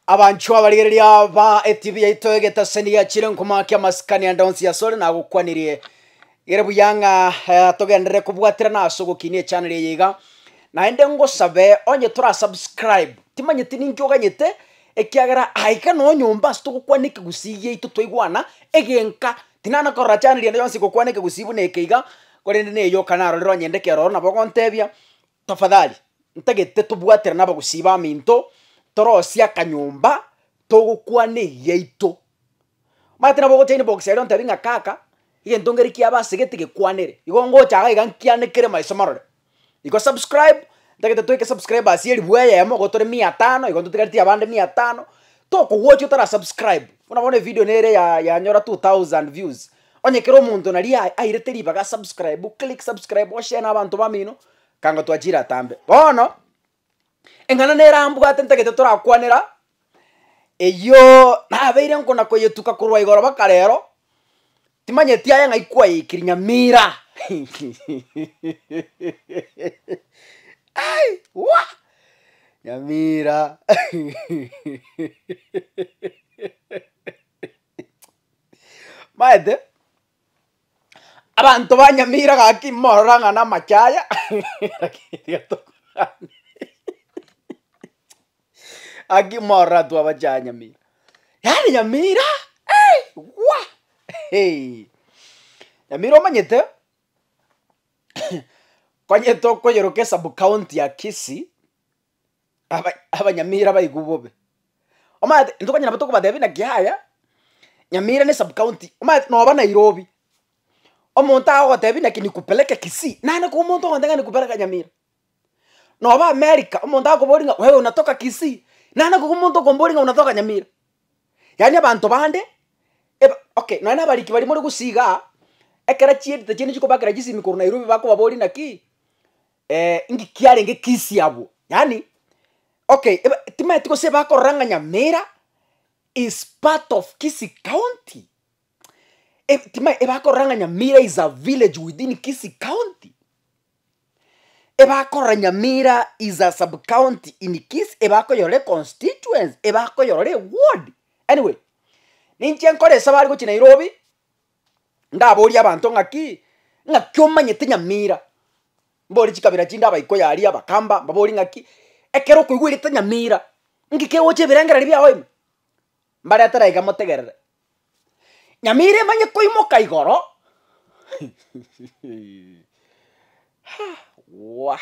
Abanchwa abarigereria ba etibi yaito egetaseni giachire nkomoakia amasikani ande onsi ase ore nagokwanirie gere buya ng'a eh, togenderere kobwaterana ase ogokinia echanel eye iga naende ngosabe onye tora subscribe timanyeti ninki oganyete ekiagera aiga no nyomba ase togokwana ekegusii giaito twaigwana egenka tinana korora chaneli ende yonsi gokwana ekegusii buna eke iga korende na eyoka narorire onye ndekero nabo gontebia. Tafadhali, ntagete tobwatera nabagusii baminto, torosie akanyomba, togokwana eyiaito. Omanyete nabo ogocha inbox eria ontebi ng'a kaka, egento ngeri kiabe ase gete gekwanere, igo ngocha iga nkianekere maiso marore. Igo subscribe, ntagete toeke subscribers elifu eyemo, igo tore mia tano, igo totigaretie abande mia tano, tokogwochi otara subscribe, buna bono evidio nere ya yanyora two thousand views. Onye kera omonto naria airete ribaga subscribe click subscribe oshare na abanto bamino kango twachire atambe. Bono eng'ana nere ambwate ntagete torakwanera eyio nabeire nkona koyetuka korwa igoro baka rero timanyeti aye ng'ai kwayeikiri Nyamira ai wah Nyamira. Maete, abanto ba Nyamira gaki morora ng'a namache aya, lakini tiga tokorwani gaki morora intwe abache aa Nyamira. Yaani Nyamira eei gwa eei, Nyamira omanyete, konyete okoyeroka esub county ya Kisii. aba- abanyamira baigwe bobe. Omanyete intokonyara nabo tokobatebia naki yaya, nyamira ne sub county, omanyete noba nairobi, omonto agogotebia naki nikupeleke kisii, nane ko omonto ogoteba ng'a nikupeleka nyamira. Noba america, omonto akoboria ng'a wewe unatoka kisii, nane ko omonto okomboria ng'a unatoka nyamira. Yaani abanto bande, eba okay nonya na abariki baria more gusii igaa, ekero chiedita chiane chikobakera chisimi korwa nairobi bakobaboria naki, Eh, inki kiarenge kisia abwo? Yaani, okay, eba- timaeti gose bakorora ng'a Nyamira is part of Kisii County. E- tima- ebakorora ng'a Nyamira is a village within Kisii County. Ebakorora Nyamira is a sub county in Kisii, ebakoyorora e constituency, ebakoyorora eward. Anyway, ninche nkore esabari gochia Nairobi, Ndaborie abanto ng'aki, ng'aki omanyete Nyamira? Mbore chikabira chinde abaikoi aria, abakamba, mbaborie ng'aki, ekero okoigwerete Nyamira, ng'iki kegocha ebirengereri biago ime? Mbaretere iga motegerere. Nyamira emanye koimoka igoro ha! wah.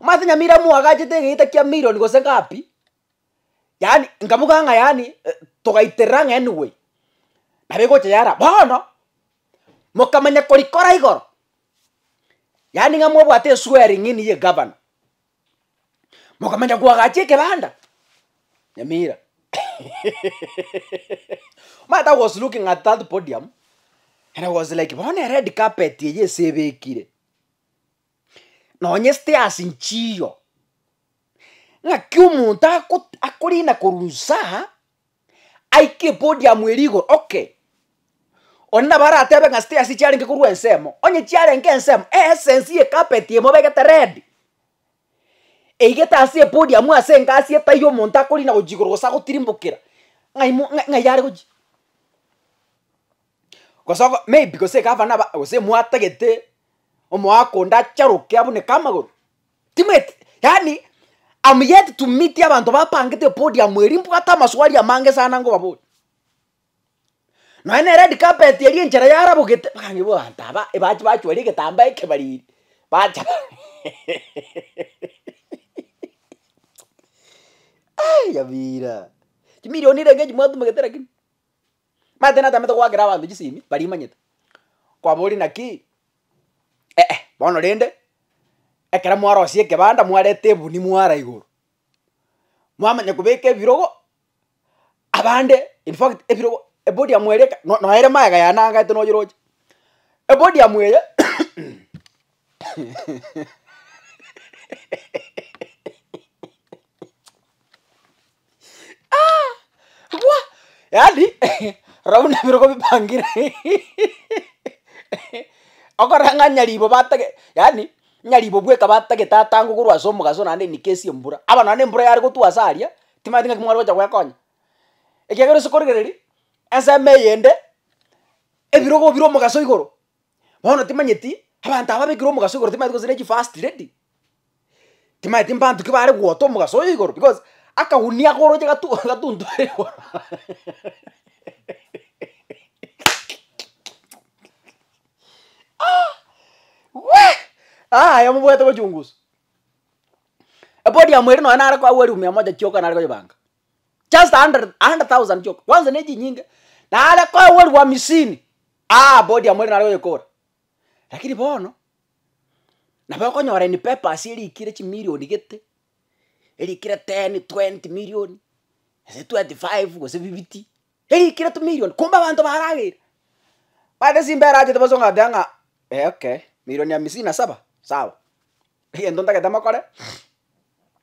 Omanyete nyamira mwagachete egeita kia million gose ngapi, yaani nkaboka ng'a yaani togaiterera ang'e anyway, nabo egocha yara. Bono, mokamanya korikora igoro, yaani ng'a mobwate eswearing in ya egavana, mokamanya koagacha ekebanda, nyamira omanyete I was looking at that podium, and I was like bono ered carpet eye ase ebekire. nonyesete ase nchiyo, ng'aki omonto agot akorina korwa insaa, aike epodium eria igoro okay, onde nabo aratebe ng'a stairs chiarenge korwa ensemo, onye chiarenge ensemo, eessence ye carpet emobegete red, eigete ase epodium ase engasi etaiyo omonto akorina gochia igoro gose agotirimbokera, ng'ai mo ng'ai yare gochia. Gose oko maybe gose egavana aba gose mwatagete omoaka onde acharoke abune kamagoro, timweti yaani am yet to meet abanto bapangete podium eria mbwate amaswali amange sana nkobaboria. Nonye ne red carpet eria enchera yarabogete mpaka nkaboigo abanto aba ebachi bachwara egetambaa ekebariri bacha yabira chimilioni renge echi mwatumegete lakini. Martin atamete goakera abanto chisemi baria imanyete. Kwaboria naki? Eeh, bono rende ekero mwarosia ekebanda mwareta ebuni mwara igoro, mwamanya kobeka ebirogo, abande in fact ebirogo ebodi yamo eria eke no- noere magega yanangaete noyeroche. Ebodi yamo eye Bwa! Yaani, rora buna ebirogo bipangire okorora ng'a nyaribo batake yaani nyaribo bweka batagete tata ango korwa ase omogaso naende inike esie embura, aba naende embura yare gotwa ase aria, timanyeti ng'aki mware gocha gwekonya. Ekiagera ase korigereria, ensemo eyende, ebirogo bire omogaso igoro. Bono timanyeti abanto aba abekire omogaso igoro timanyeti gose ne chifirst lady, timanyeti mbanto ki bare gota omogaso oyo igoro because akagunia akoroche gatu gatuntore igoro aah wee yaya mobwate gochungusa. Epodium ere nonye nare koagwa eriomi mia moja chioka nare koyebanga. just a hundred a hundred thousand chioka kwanza ne chinyinge nare koegwa elfu hamisini aa body yamo ere nare goyekora lakini bono nabo okonyora in papers erikire chimilioni gete erikire ten twenty million gose twenty five gose fifty erikire tumilion kumbe abanto barageire mara gose simba erachete bosa ogateba ng'a eh okay milioni hamisini na saba sawa egento ntagete mokore.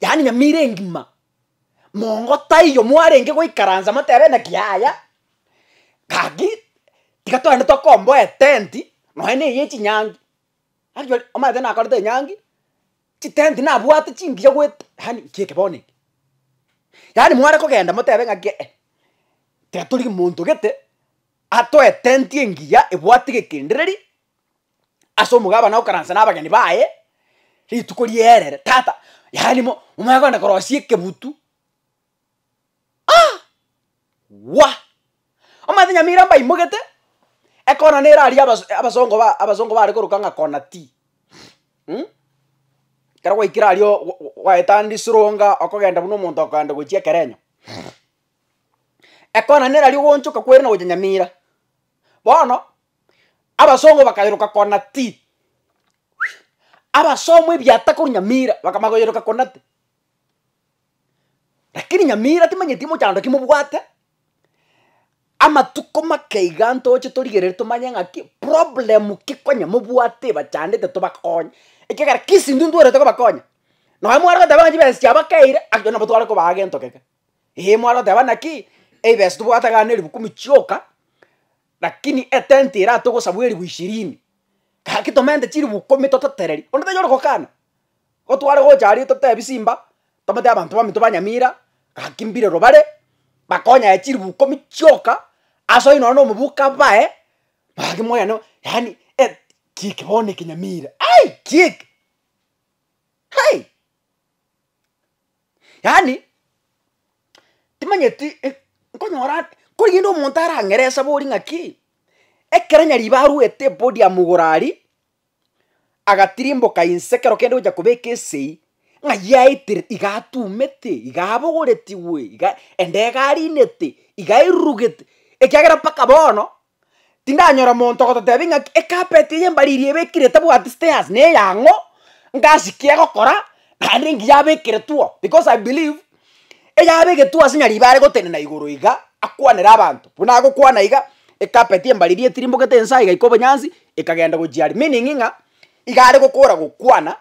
Yaani nyamira engima, mongo taiyo mwarenge goikaransa motebe ng'aki yaya, gaki tiga togende tokomboa etenti, nonya na eye chinyangi, actually omanyete nakorete enyangi, chitenti nabwate chingiya goet yaani nki eke bono eke. Yaani mware kogenda motebe ng'aki eh, tiga torigie monto gete, atoe etenti engiya ebwate gegendereri. ase omogabane okaranse na abageni baye, rituko rierere tata yaani mo momanye kogenda korosia ekebutu aah wah! Omanyete nyamira mbaimogete, ekona nere aria abas abasongo ba abasongo bare koroka ng'a kona tea mh, ekero gwaikire aria oo gwa gwa gwaetande esironga okogenda buna omonto okoenda gochia ekerenyo ekona nere aria ogoonchoka kwerina gochia nyamira, bono. Abasongo bakayeroka kona ti. Abasomo ebiata korwa nyamira bakamanya koyeroka kona ti. Lakini nyamira timanyeti mochando ki mobwate, amatuko make iga ntoche torigereri tomanye ng'aki problem ki konya mobwate ebachandete tobakonye. Ekiagera kisi intwe ntwerete kobakonya. Nonye mware goteba ng'a chibesa chiabo keire ake nabo tware kobaa gento keke. Ee mware goteba naki, eibesa tobwate iga ne ribu kumi chioka. Lakini etenti ere atogosabwa eribu ishirini, gaki tomente chiribu ikomi tototereri, onde tanyare gokana. Igo tware gocha aria totebi simba, tobwate abanto baminto ba nyamira, gaki mbirero bare, bakonyaye chiribu ikomi chioka, ase oyio nonye na omobuko abae, gaki moyane o yaani et ki eke bono eke nyamira, ai ki eke, hai. Yaani, timanyeti eh, nkonyora ande korende omonto arang'erese bori ng'aki, ekero nyaribo arwete epodium igoro aria, agatirimboka inse ekero kende gocha kobeka esegi, ng'ai aitire iga atumete, iga abogoretigwe, iga ende iga arinete, iga airurugete, ekiagera mpaka bono, Tindanyora monto ogototebi ng'aki ecarpet eye mbariri ebekire etabwati stairs neyang'o, ngasi ki egokora, naende engiya abekeretwe oo, because I believe, eyabegetwe ase nyariba are gotenena igoro iga, akwanere abanto, buna agokwana iga, ecarpet embariri etirimbogete ense aiga ika obonyansi, ekagenda gochia aria, meaning ng'a, iga are gokora gokwana,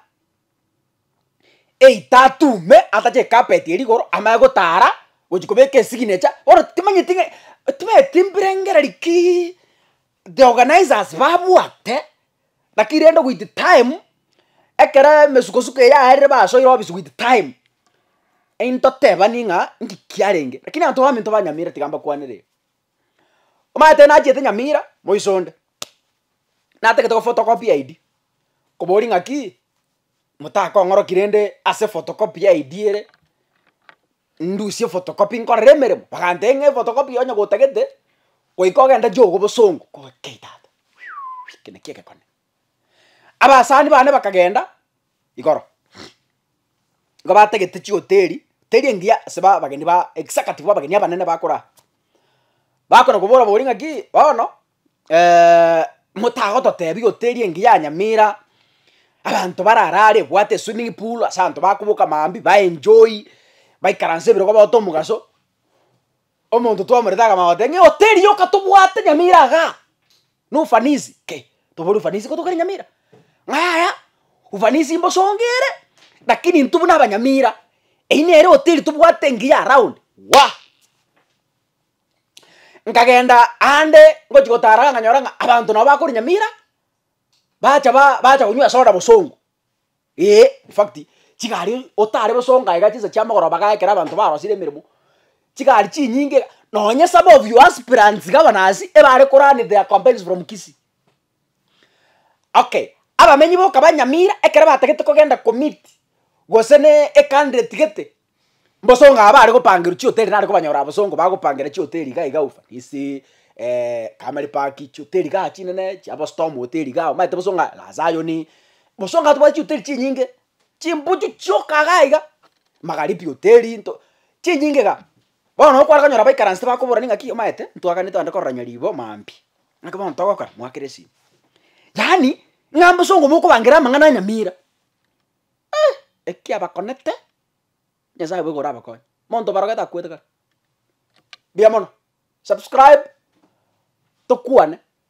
eita atume atache ekapeti erigoro amanye gotara gochi kobeka esignature bono timanyeti ng'a timanyeti mbirengereri kii the organizers babwate naki rende with time ekero emesukosuko eria yarire basoire obisi with time intotebani ng'a nki kiarenge lakini abanto baminto ba nyamira tiga mbakwanere iga omanyete nachete nyamira moisonde natagete gofotokopia id kobori ng'aki. motakong'oroki rende ase photocopy ya ID ere, ndusie photocopy nkorere emeremo, bagantebia ng'a ephotocopy onye gotagete, goika ogende jogo bosongo, kogaki kei tata eke naki egekone. Abasani bane bakagenda igoro, igo batagete chihoteri, teri engiya ase ba abageni ba executive ba abageni abanene bakora aa, bakona kobora bori ng'aki bono motagototebi goteria engiya ya nyamira, abanto barare are ebwate eswimming pool ase abanto bakoboka maambia ba enjoy, baikaranse ebirogo bagote omogaso, omonto twamoreta akamanya goteba ng'a ehoteri yoka tobwate nyamira igaa, na ufanisi, ki tobore ufanisi ko tokare nyamira? Ng'a yaya ufanisi mbosonge ere, lakini intwe buna abanyamira, eywo nere ehoteri tobwate engiya around, waah. Nkagenda aande ngochia gotaara ng'a nkanyora ng'a abanto nabo bakorinya mira, bacha ba bacha konywa esoda bosongo, ee infact chigari otare bosongo aiga chinsa chia mogoroba iga ekero abanto barosire emeremo, chigari chinyinge iga, nonye some of your aspirants gavanaasi ebare ko run their campaigns from Kisii, Okay, abamenyi boka ba Nyamira ekero batagete kogenda komeet gose na ecountry etigete, mbosongo aba bare gopangerwa chihoteli nare kobanyora abosongo bagopangera chihoteli iga iga Ufanisi, Kamari Park, chihoteli igaa chinene chia Bostom hoteli igaa omanyete bosongo aya La Zion, bosongo aya tobwate chihoteli chinyinge, chimbuchu chioka igaa iga, Magharibi hoteli nto chinyinge igaa. Bono nabo kware konyora abaikaranse bakobora ning'aki omanyete ntwaganetie korora nyaribo maambia. Naki bono togokora mwakere esimi. Yaani, ng'a mbosongo mokobangera amang'ana anyamira, eeh, ekia bakonete, Nyasaye obo iga orabakonye. Monto obarogete akwete kare, mbuya mono, subscribe, tokwane.